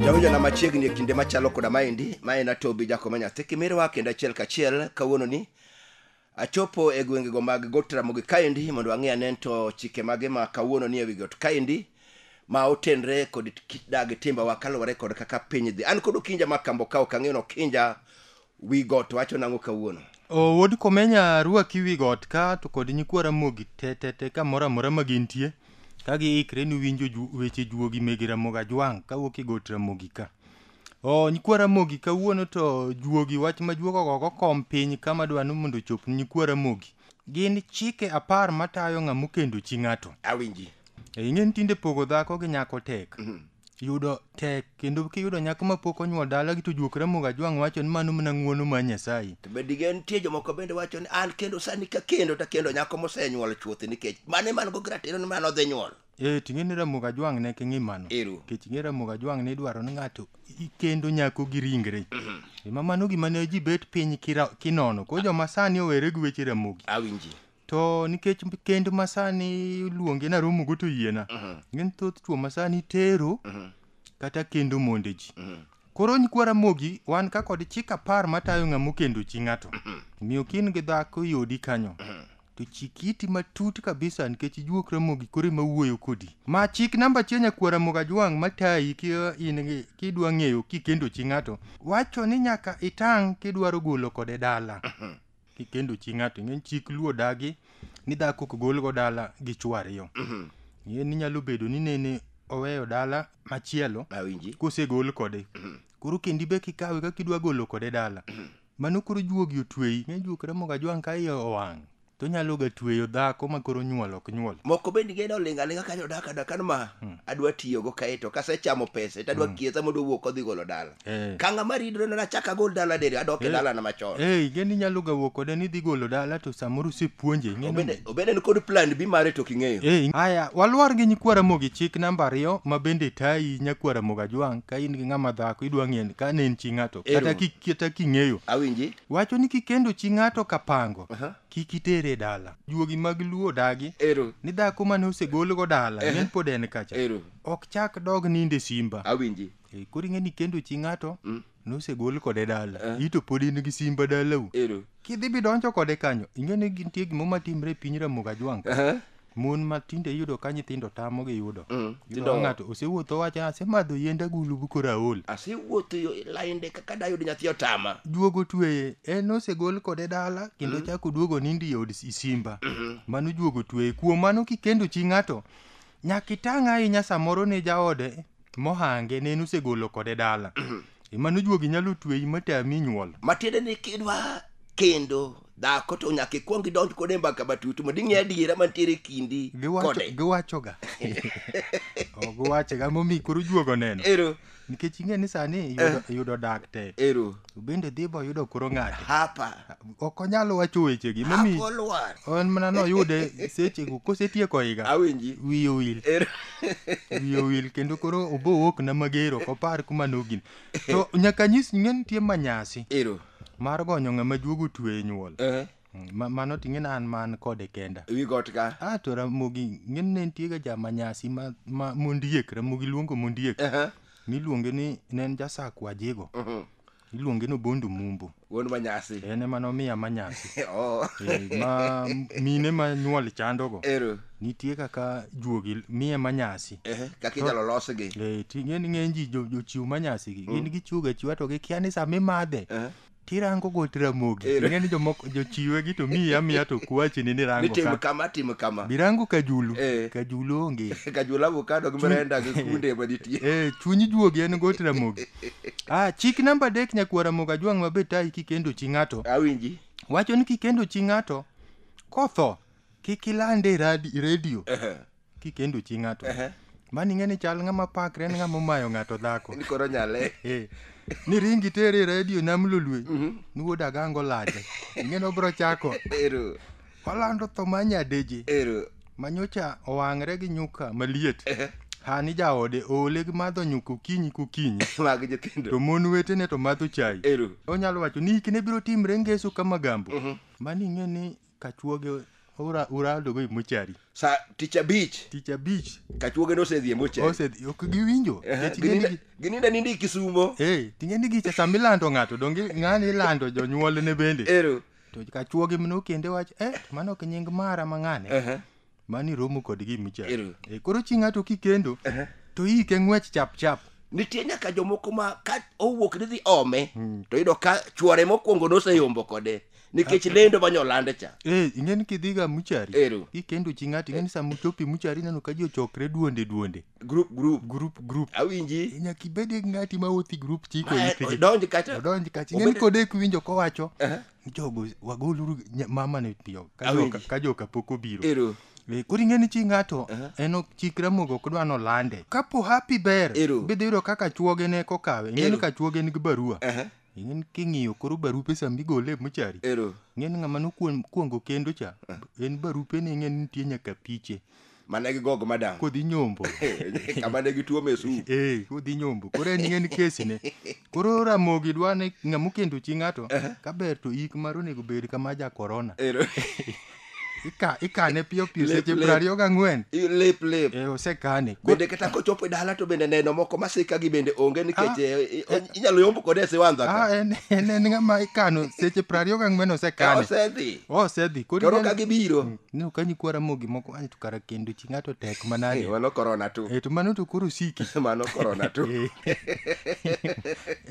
jawinjona machiegni e kinde machalo koda maendi ma en atobi jakoma nyathi kimirwa kendo achiel kachiel kawuono ni achopo e gwengego mag got ramogi kaendi mondo ang'e ane to chike mage ma kawuono ni e wi got kaendi ma otenre kod kit dak gi timbewa kaluwore kod kaka piny dhi an kod okinja ma kambo ka ok ang'eyo ni okinja wi got wacho nang'o kawuono O wuod komenya rwaki wi got ka to kod nyikwa ramogi te te te kamoro amora ma gintie ka giikre ni winjo ju, weche juogi mege ramogi ajwang' kawuok e got ramogi ka o nyikwa ramogi kawuono to juogi wach ma juogo gogo kom piny kama dwa ni mondo ochop ni nyikwa ramogi Gin chike apar matayo ng'ama okendo chi ng'ato. Awinji. E, ing'e ni tinde pogo dhako gi nyako tek. Yudo tek kendo kiyudo nyako ma pok onyuol dalagi to juok ramogo ajwang' wacho ni mano mana ng'wono mar Nyasaye. To be digen nitie jomoko bende wacho ni an kendo sani kakendo takendo nyako mosenyuol chuth nikech mano eman go gi ratiro ni mano odhi nyuol. Eh, ting'e ni Ramogi Ajwang' ne king'i mano. Ero. Nikech ing'e Ramogi Ajwang' ne idwaro ni ng'ato ikendo nyako gi ringre. Ema mano gima ne ji bet piny kira- kinono. Koro joma sani owere gi weche Ramogi. Awinji. To nikech kend ma sani luonge na romogo to yiena. Ng'eny thoth chwo ma sani tero kata kendo monde ji. Koro nyikwa Ramogi wan ka kod chik apar matayo ng'ama okendo chi ng'ato. Miyo kin gi dhako yodi kanyo. to chik iti matut kabisa nikech juok ramogi koro ema wuoyo kodi ma chik namba achiel nyakwar ramogi ajwang' matayi ki in gi- kidwa ng'eyo kikendo chi ng'ato wacho ni nyaka itang' kidwaro golo kode dala kikendo chi ng'ato ing'e ni chik luo dagi ni dhako ok golgo dala gi chwo ariyo ing'e ni nyalo bedo ni nene oweyo dala machielo Awinji. kosegol kode koro kendi be kikawe kaka idwa golo kode dala Mano koro juogi otweyi. Ng'e juok remo ga jwang' ka iye owang'. To nyalo ga tweyo dhako ma koro nyuol ok nyuol. Moko bende genda olinga linga kanyo daka daka kan ma hmm. adwa tiyo go kae to kase chamo pesa to adwa hmm. kiesa mondo wuok odhi golo dala. Eh. Kanga ma ridre na chaka gol dala dere adok e eh. dala na machon. Eh, geni nyalo ga wuok ode ni dhi golo dala to samoro se puonje. Obende obende ni kod plan bi mare to kingeyo. Eh, aya walwar gi nyikwara mogi chik namba ariyo ma bende tayi nyakwara moga jwang ka in gi ng'ama dhako idwa ng'en ka ne en chi ng'ato kata kik kieta king'eyo awinji wacho ni kikendo chi ng'ato kapango Aha. kik itere e dala juogi mag luo dagi ero ni dhako mane osegolgo dala Ehe. ne pod en kacha ero ok chak dog ninde simba awinji Eh, koro ing'e ni kendo chi ng'ato Mm. nosegol kode dala Eh. ito pod in gi simba dalau ero kidhi bidonjo kode kanyo ing'e ni gintie gimo matimre e piny ramoga jwang Aha. mon ma tinde iyudo ka nyithindo tamo gi yudo Mm, Iyudo ka gidongo. ng'ato osewuotho wacho asemadho yiend agulu bu koro aol asewuotho yo lainde kaka dayud nyathi otama duogo tweye en osegol kode dala kendo chako duogo nindi e od si- simba mano duogo tweye kuom mano kikendo chi ng'ato nyaka itang' ahinya samoro ne jaode mohange ne en osegolo kode dala ema nojuogi nyalo tweyi matami nyuol matiende ni kidwa kendo dhako to nyaka ikwong idonj kode e mbaka matut mondo ing'e adiera mantiere e kindi Giwacho- kode giwachoga Oh, giwachoga momi koro juogo neno ero nikech ing'e ni sani yudo- yudo dak tek ero To bende dhi boyudo koro ng'ate. Hapa. Ok onyal wacho wechegi. Momi Hapo lwar. en mana noyude sechego kosetieko higa. Awinji. Wiye owil. Er- Wiye owil kendo koro obowuok na mager ok opar kuma nogin. To nyaka nyis ni nitie manyasi Ero. mar gonyo ng'ama juogo twe e nyuol. Eh. Ma- mano to ing'eni an man kode kenda ewi got ka a to ramogi ing'eni ne nitiega jamanyasi ma, ma mondiek ramogi luongo mondiek Aha. miluonge ni ne en jasak wajego Mhm. iluonge ni obondo mumbo wuon manyasi en ema nomiya manyasi Oh. Eh, ma mine ma nyuol chandogo ero nitie kaka juogi miye manyasi Ehe, kaka inyalo losgi Eh, ti- ng'eni ng'eny ji jo- jochiw manyasigi gin gichiwoga chiwa to gikia ni sama imadhe Aha. tirango got ramogi Eh. ing'e ni jomoko jochiwe gi to miyi amiya to kwachi ni ni rango tim ka kama tim kama birango kajulu Eh. kajulu onge kajula avokado gi mrenda gi kunde manitie eh chunyi juogi en got ramogi ah chik namba adek nyakwa ramogi ajwang' mabe tayi kikendo chi ng'ato awinji wacho ni kikendo chi ng'ato kotho kik ilande e radi- redio Ehe. kikendo chi ng'ato Ehe. mani ng'e ni chal ng'ama pakre en ng'ama omayo ng'ato dhako Ni koro nyale. Eh, ni ringi tere e redio nam lolwe ni wuod agango lade ing'eni obro chako Ero. olando tho ma nyadeje Ero. manyocha owang're gi nyuka maliet Ehe. hani jaode oole gi madho nyuka okinyi kokinyi Mag to nyithindo. mon wetene to madho chai Ero. onyalo wacho ni hikne biro timre ngeso ka magambo mani ing'e ni Kachuoge ora urado go e mochari. Sa tich abich. Tich abich. Kachuoge no osedhi e mochari. Osedhi ok giwinjo. Gininda nindi Kisumo. Eh, tingeni gicha sama ilando ng'ato donge ng'ani ilando jonyuolne bende. Ero. To kachuoge mno kende wach eh mano ok nying mara mang'ane. Uh -huh. mani romo kod gima ichando Ero. Eh, koro chi ng'ato kikendo to ike ng'wech chap chap nitie nyaka jomoko ma ka owuok ni dhi ome to yudo ka chuore mokwongo noseyombo kode nikech lendo ma nyolande cha Eh, ing'e ni kidhiga muchari Ero. kikendo chi ng'ato ing'e ni sama uchopi muchari ineno ka ji ochokre duonde duonde group group group group awinji nyaka ibed gi ng'ati ma wuothi group chiko Ma- ithigi odonj kacha odonj kacha ing'e ni Obed- kode kiwinjo kowacho jogo wagoluru nya- mama ni piyo ka Awinji. joka- ka joka pok obiro Ero. Eh, koro ing'e ni chi ng'ato Aha. en ok chik ramogo ok dwa nolande kapo happy ber Ero. bidhi yudo kaka chuoge ne kokawe ing'e ni Ero. ka chuoge nigi barua Aha. ing'e ni king'iyo koro barupe sama igole e mochari Ero. ing'e ni ng'ama nokuongo kendo cha en barupe ni ing'e ni nitie nyaka piche mana gi gog madam kodhi nyombo kama ne gituo mesu eh kodhi nyombo koro en ng'en kesi ne koro ramogi dwa ni ng'ama okendo chi ng'ato kaber to ik mar onego bed kama ja korona Ero- Ika- ikane piyo piyo Lep, seche lep. piero ariyo gang'wen lep lep eh osekane Koro- bende kata kochopo e dala to bende neno moko masika gi bende onge nikech Ah. eh, eh, inyalo yombo kode e siwandha ka. ah, en en en ng'ama ikano seche piero ariyo gang'wen Ka osekane osedhi osedhi koro koro ineno- ka gibiro No, ka nyikwa Ramogi moko ani to kara kendo chi ng'ato tek manade. Eh, mano korona tu. Eh, to mano to koro siki. mano korona tu. Eh.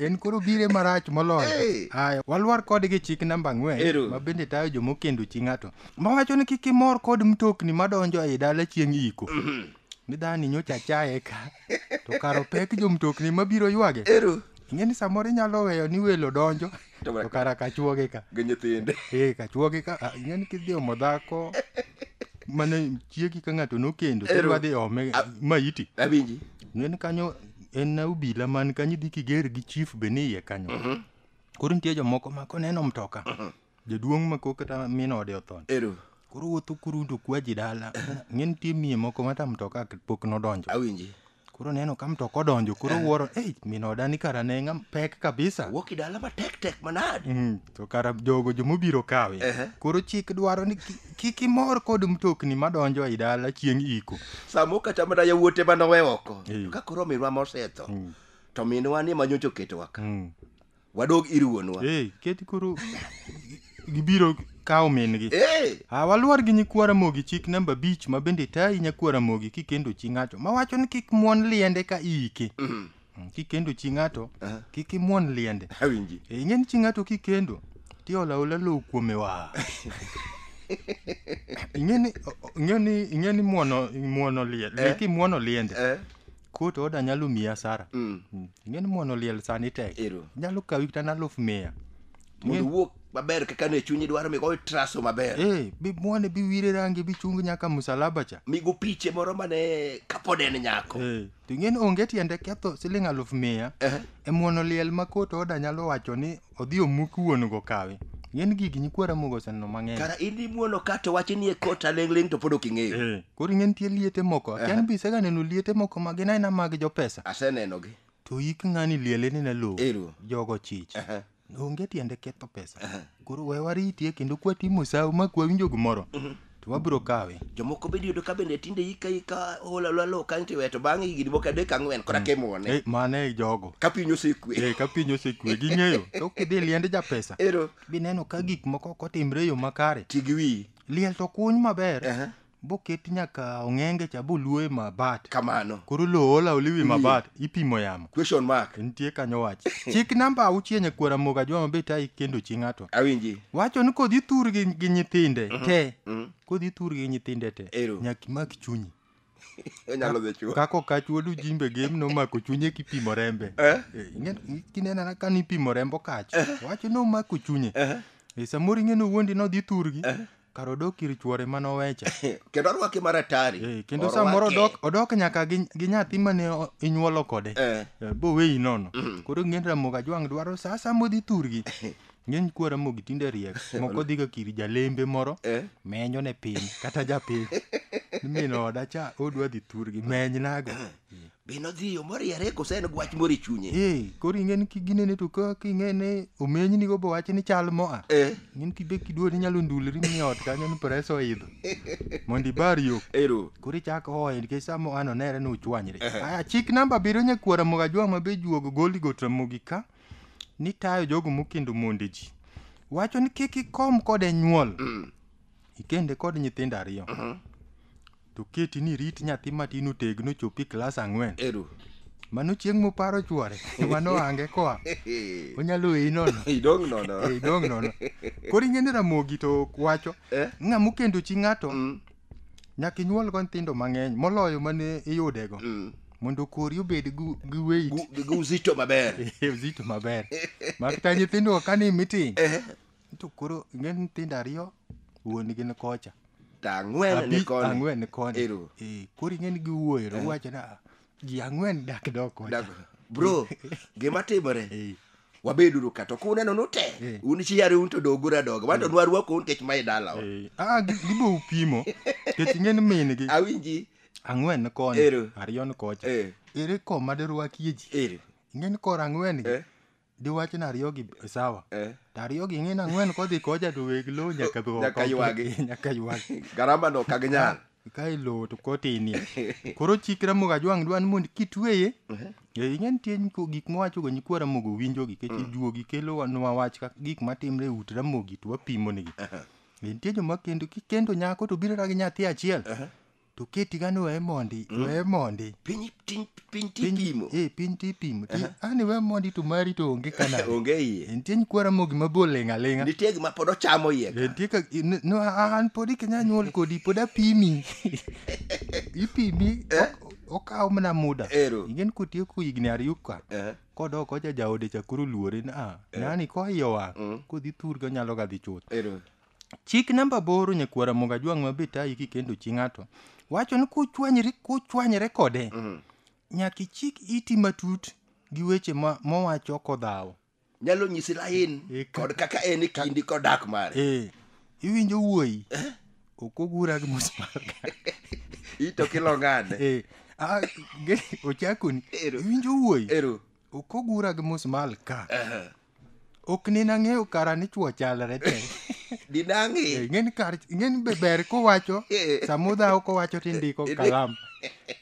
en koro bire marach moloyo. Hey. Aya, walwar kode gi chik namba ang'wen ma bende tayo joma okendo chi ng'ato. Mawacho ni kik imor kod mtokni madonjo ei dala chieng' iko. Mm -hmm. Midhani nyocha chaye ka. to kar opek jomtokni mabiro ywage ero ing'e ni samoro inyalo weyo ni welo donjo To mana- to kara kachuoge ka gi nyithinde ee kachuoge ka ah, ing'e ni kidhi omo dhako mane chiegi ka ng'ato nokendo Ero. kidwa dhi ome A- maiti awinji ing'e ni kanyo en na obila man kanyo idhi kiger gi chief be ni iye kanyo koro nitie jomoko ma koneno mtoka Jaduong' ma kok kata min ode otho. Ero. Koro wuotho kuru to kwa ji dala. Ng'e nitie miye moko mata mtoka pok nodonjo. Awinji. Koro neno ka mtoka odonjo, koro eh. wuoro, eh, min oda ni kara ne ng'am pek kabisa. Wuok dala ma tek tek manad. Mm, to kara jogo jo mobiro kawe. Uh -huh. Koro chik dwaro ni kik imor kod mtokni madonjo e dala chieng' iko. Samo kata mana yawuote manowe oko. Eh. Ka koro minwa mosetho. Mm. To minwa ni manyocho ketowa ka. Mm. wadog ir wuonwa hey, keti koro gibiro kawo min-gi hey. ah, waluor gi nyikwa ramogi chik namba abich ma bende tayi nyakwa ramogi kikendo chi ng'ato ma wacho ni kik muon liende ka iike mm -hmm. Mm, kikendo chi ng'ato uh -huh. kik imuon liende awinji e, ing'e ni chi ng'ato kikendo tiolaola lowo kuome wa ing'e ni ing'e ni ing'e ni muono muono liende eh? kimwono liende eh? Kut oda nyalo miyi asara. Mm. Mm. Ing'e ni muono liel sani tek. Ero. Nyalo kawi kata naluf mia. Mondo Ing'e- wuok maber kaka ne chunyi dwaro mi goyo traso maber. Eh, bi muone bi wire rangi bi chung nyaka musalaba cha. Mi go piche moro mane kapod en nyako. Eh, to ing'e ni onge tiende ketho siling aluf mia. Eh. E muono liel ma kot oda nyalo wacho ni Odhi omuki wuon go kawi. Ng'en gigi nyikwa Ramogi oseneno mang'eny. Kara in imuono ka to wache nie kot aling'ling' to pod ok ing'eyo. Eh, Koro ing'e nitie liete moko. Akia ni be iseganeno liete moko ma gin aina mag jopesa. Asenenogi. To ik ng'ani liele ni ne lowo. Ero. Jogo chich. Aha. Onge tiende ketho pesa. Koro we waritie kendo kwatimo sawo ma kwawinjo gimoro. to wabiro kawe jomoko bende yudo ka bende tinde ika ika hola lola lo kanyo tiwe to bang'e higni moko adek ang'wen kora ke muone Eh, mano e jogo ka piny osekwe Eh, ka piny osekwe ging'eyo to kidhi liend japesa ero bineno ka gik moko ok otimre e yo makare ti gi wiyi liel to kuny maber Aha. boket nyaka ong'enge cha boluoe mabat kamano koro lowo ola oliwi mabat ipimo yamo question mark nitie kanyo wach chik namba auchiel nyakwar amoga jwa mabe ta ikendo chi ng'ato awinji wacho ni kodhi thur gi, gi nyithinde te kodhi thur gi nyithinde te Ero. nyaka imak chunyi onyalo dhi chuo kako kachuodu jimbe gem nomako chunye kipimo rembe Eh? Eh, ing'e- kinenana ka nipimo rembo kach wacho nomako chunye Eh, samoro ing'e nowuondi nodhi thurgi kar odok ir chwore mane owecha kendo orwake maratari Eh, kendo samoro odok, odok nyaka gi, gi nyathi mane o- inyuolo kode Eh. Eh, boweyi nono koro ng'en ramoga jwang' dwaro sa sa modhi thurgi ng'eny kuo ramogi tinde riek moko dhiga kiri jalembe moro Eh. menyo ne piny kata japiny min oda cha odwa dhi thurgi menynago Be nodhi yo moriere kose en gwach moro e chunye? Ee, koro ing'eni kiginene to ka king'ene omenyni go bowache ni chal moa. Eh, Ng'en kibe kiduo ni nyalo ndulri ni ot kanyo ni press oidho. Mondo ibar yo. ero. Koro ichako hoye nikech sa moa no nere ni uchwanyre. Aya, chik namba abiriyo nyakwara moga jwa ma be juogo goli got ramogi ka ni tayo jogo mokendo monde ji. Wacho ni kik ikom kode nyuol. Ikende kod nyithindo ariyo. To keti ni rit nyathi matin otegno chopi klas ang'wen. Ero. Mano chieng' moparo chwore, mano ange koa. Onyalo weyi nono. Idong' nono. Eh, Idong' nono. Koro ing'e ni Ramogi to wacho, Eh? ng'a mokendo chi ng'ato, Mm, nyaka inyuolgo nyithindo mang'eny, moloyo mane iyudego, mm. mondo kori obed gu- gi weight. Gu- gu- Uzito maber. Eh, uzito maber. Makata nyithindo ka ni meeting, Eh, To koro ingen nyithindo ariyo wuonigi ni kocha. Ang'wen ni Abi- koni. Ang'wen ni koni. Ero. Eh, koro ing'eni giwuoyo to uwacho ni "Ah, ji ang'wen dak dok kocha. Dak- Bro, gima timore. Eh. Wabeduru ka to kuneno Eh. nute. Un chi yare un to dogu radoga. Wan to nwarwako un kech mae dalawa. Eh, ah, gi- gibo upimo. Kech ing'eni minigi Awinji. ang'wen ni koni. Ero. Ariyo ni kocha. Eh. Ere koma dirwakie ji. Ere. Ing'eni koro ang'wen gi. Eh. diwach ni ariyo gi sawa eh. to ariyo gi ng'in ang'wen kodhi koja to weg lowo nyaka be nyaka ywagi nyaka ywagi garama no kag nyal ka ilowo to kotinie koro chik ramogo ajwang' dwa ni mondo kitweye uh-huh. eh, ing'e nitie gik mowachogo nyikwa ramogo winjogi kech mm. juogi kelonwa wach kaka gik matimre e ut ramogi to wapimonigi uh-huh. eh, nitie joma kendo kikendo nyako to birora gi nyathi achiel uh-huh. to keti gani weye mondi weye mondi piny tin- piny tipimo eh piny tipimo ti ani we mondi to mari to onge kana onge iye entie nyikwara mogi mabor ling' aling'a nitie gima pod ochamo iye ka. entie ka in- no a- an pod ikenya nyuol kodi pod apimi ipimi ok- okawo mana muda Ero. ingen kotieko higni ariyo ka Eh, kodok oja jaode chakoro luore ni a nani koiyo wang' kodhi thurgi onyalo ga dhi chuth ero Chik namba aboro nyakwar Ramogi Ajwang' ma be tayi kikendo chi ng'ato wacho ni kuchwanyri kuchwanyre kode nyaka ichik iti matut gi weche ma mowacho kodhawo. nyalo nyisi lain Eh, ka- kod kaka en e kindi kod dak mare Eh, iwinjo wuoyi ok ogura gi musmal ito kilongane Eh, ah, ge- ochakoni Ero. iwinjo wuoyi ero ok ogura gi musmal ka Aha. ok ne nang'eyo kara ni chwo chalre te di nang'i Eh, ing'eni kar ing'eni be ber kowacho Eh. samudhawo kowacho ti ndiko Eh, kalam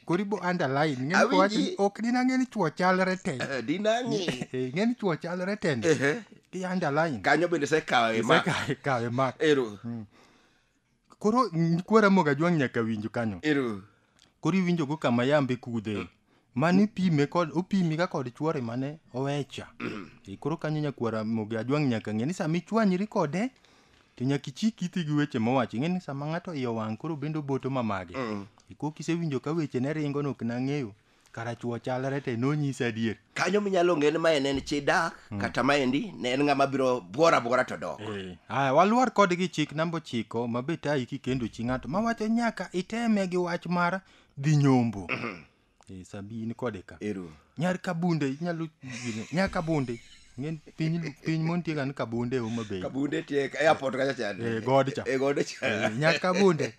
kori bo underline ing'eni Awinji. kowacho ni ok ni nang'eni chwo chalre te Eh, di nang'i Eh, ing'eni chwo chalre te ndi Ehe. ti underline kanyo bende sekawe ma Isekawe- kawe mak ero koro nyikwa ramogi ajwang' nyaka winj kanyo ero koro iwinjo go kama yambe kudhe mane ipime kod opimi ga kod chuore mane owecha e koro kanyo nyakwara mogi ajwang' nyaka ng'e ni sama ichwanyri kode to nyaka ichik iti gi weche mowacho ing'e ni sama ng'ato iye owang' koro bende oboto mamage e koro kisewinjo ka weche ne ringo no ok nang'eyo kara chuo chalre te nonyise adier kanyo minyalo ng'e ni mae ne en chi dak hmm. kata maendi ne en ng'ama biro bwora bwora to dok eh, aya waluor kodgi chik namba ochiko ma be tayi kikendo chi ng'ato ma wacho nyaka iteme gi wach mar dhi nyombo hmm. eh, sabi in kode ka nyar kabunde inyalo nyar kabunde ng'en piny piny montie kan kabunde homa bay kabunde tie airport kacha chande e eh, god cha e god cha nyar kabunde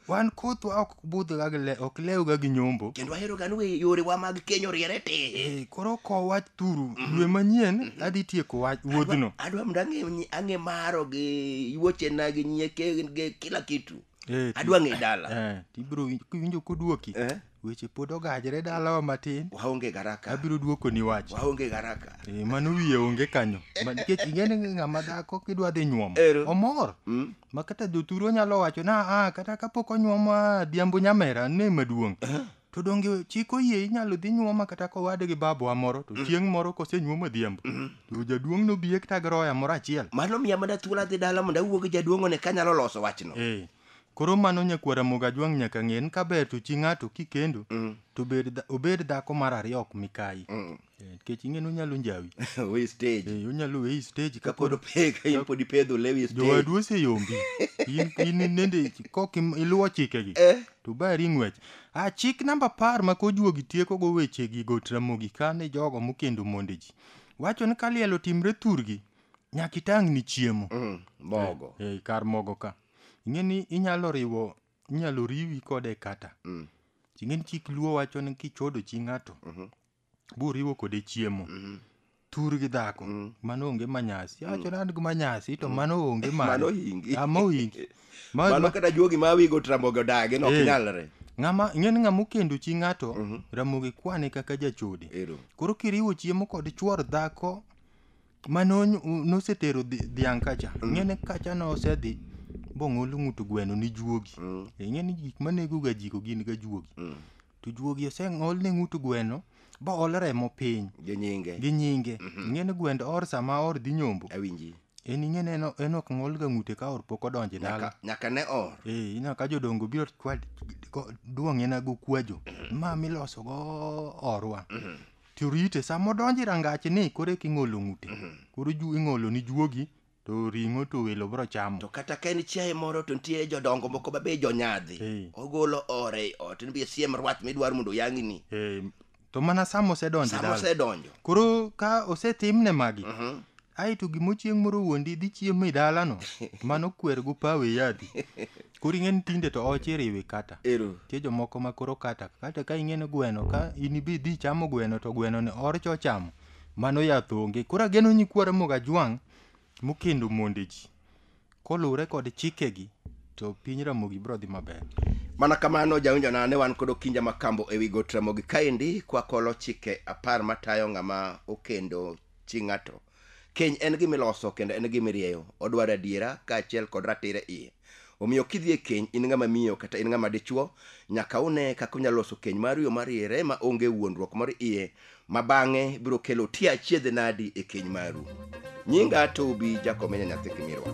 wan kothwa ok budhga gi le ok lewga gi nyombo kendo ahero gani we yorewa mag kenyo riere ti Eh, koro kow wach turu dwe manyien adhi tieko wach wuodhno adwa mondo ang'e nyi- ang'e maro gi wuochena gi nyieke gi kila kitu Eh, ti- adwa ng'e dala eh, tibiro winj- kiwinjo koduoki Eh. weche pod ogajre dalawa matin waonge garaka abiro duokoni wach waonge garaka Eh, mano wiye onge kanyo Ma- nikech ing'eni ng'ama dhako kidwa dhi nyuomo Ero. omor Mm. ma kata jothuru onyalo wacho na a kata kapok onyuomo a dhiambo nyamera ne maduong' to donge chik oyie inyalo dhi nyuoma kata kowade gi babowa moro to chieng' moro kosenyuomo dhiambo to jaduong' nobiye kata gi roya moro achiel mano miya mana thuolo adhi dala mondo awuo gi jaduong'one kanyalo loso wachno Eh, Koro mano nyakwar Ramogi Ajwang' nyaka ng'e ni kaber to chi ng'ato kikendo mm. to obed, dha, obed dhako mar ariyo ok mikayi mm. Eh, nikech ing'e ni onyalo njawi we stage eh, onyalo weyi stage ka pod pek in pod ipedho lewi stage jowadu oseyombi in in nende kok iluwo chikegi eh? to bari ng'wech a ah, chik namba apar ma kojuogi tieko go wechegi go tramogi kane jogo mokendo monde ji wacho ni ka liel otimre thurgi nyaka itang' ni chiemo mm, mogo eh, eh, kar mogo ka ing'e ni inyalo riwo inyalo riwi kode kata Mm. ing'e ni chik luo wacho ni kichodo chi ng'ato buriwo kode chiemo tur gi dhako mano onge manyasi awacho ni an gi manyasi to mano onge mano Mano hingi. Ah, ma ohingi Ma- Mano ma- kata juogi ma wigo tramogo dagi no ok Eh. nyalre. ng'ama ing'e ni ng'ama okendo chi ng'ato ramogi kwane kaka jachode Ero. koro kiriwo chiemo kod chuor dhako Mano nosetero dhiang' kacha. Mm. Ng'ene kacha nosedhi bong'olo ng'ut gweno ni juogi. Mm. E, Ng'eni gik manego ga jiko gin ga juogi. Mm. To juogi oseng'ol ne ng'ut gweno ba ol remo piny. Gi nyinge. Gi nyinge. Mm-hmm. Ng'ene gwend or sama or dhi nyombo. Awinji. en ing'ene en ok ng'olga ng'ute ka or pok odonje dala nyaka ne or ee ina ka jodongo biro duong'ena go kwajo mm-hmm. ma miloso go orwa mm-hmm. to rite sama odonjo e rangache ni koro eka ing'olo ng'ute koro ju- ing'olo ni juogi to ring'o to welo biro chamo to kata ka en chiaye moro to nitie jodongo moko ma be jonyadhi Eh. ogolo ore ei ot ni bi siem rwath midwaro mondo oyang'ni Eh, to mana sama osedonjo e sama dala osedonjo koro ka osetimne magi Mhm. aeto gimo chieng' moro wuondi dhi chiemo e dalano mano kwer go pawe yadhi Koro ing'e ni tinde to oche iriwi kata. Ero. Tie jomoko ma koro kata kata ka ing'e ni gweno ka in ibi dhi chamo gweno to gweno ni orch ochamo mano yath onge. Koro ageno nyikwa Ramogi Ajwang' mokendo monde ji koluwre kod chikegi to piny Ramogi biro dhi maber. Mana kamano jawinjona ne wan kod Okinja Makambo ewi got Ramogi kaendi kwakolo chike apar matayo ng'ama okendo chi ng'ato Keny en gima iloso kendo en gima irieyo. Odwaro adiera kaachiel kod ratiro e iye. Omiyo kidhi e keny in ng'ama miyo kata in ng'ama dichwo, nyaka une kaka unyalo loso keny maru e yo mariere ma onge wuondruok moro iye ma bang'e biro kelo tie achiedh nadi e keny maru. Nyinga Tobi Jakomenya Nyathi Kimirwa.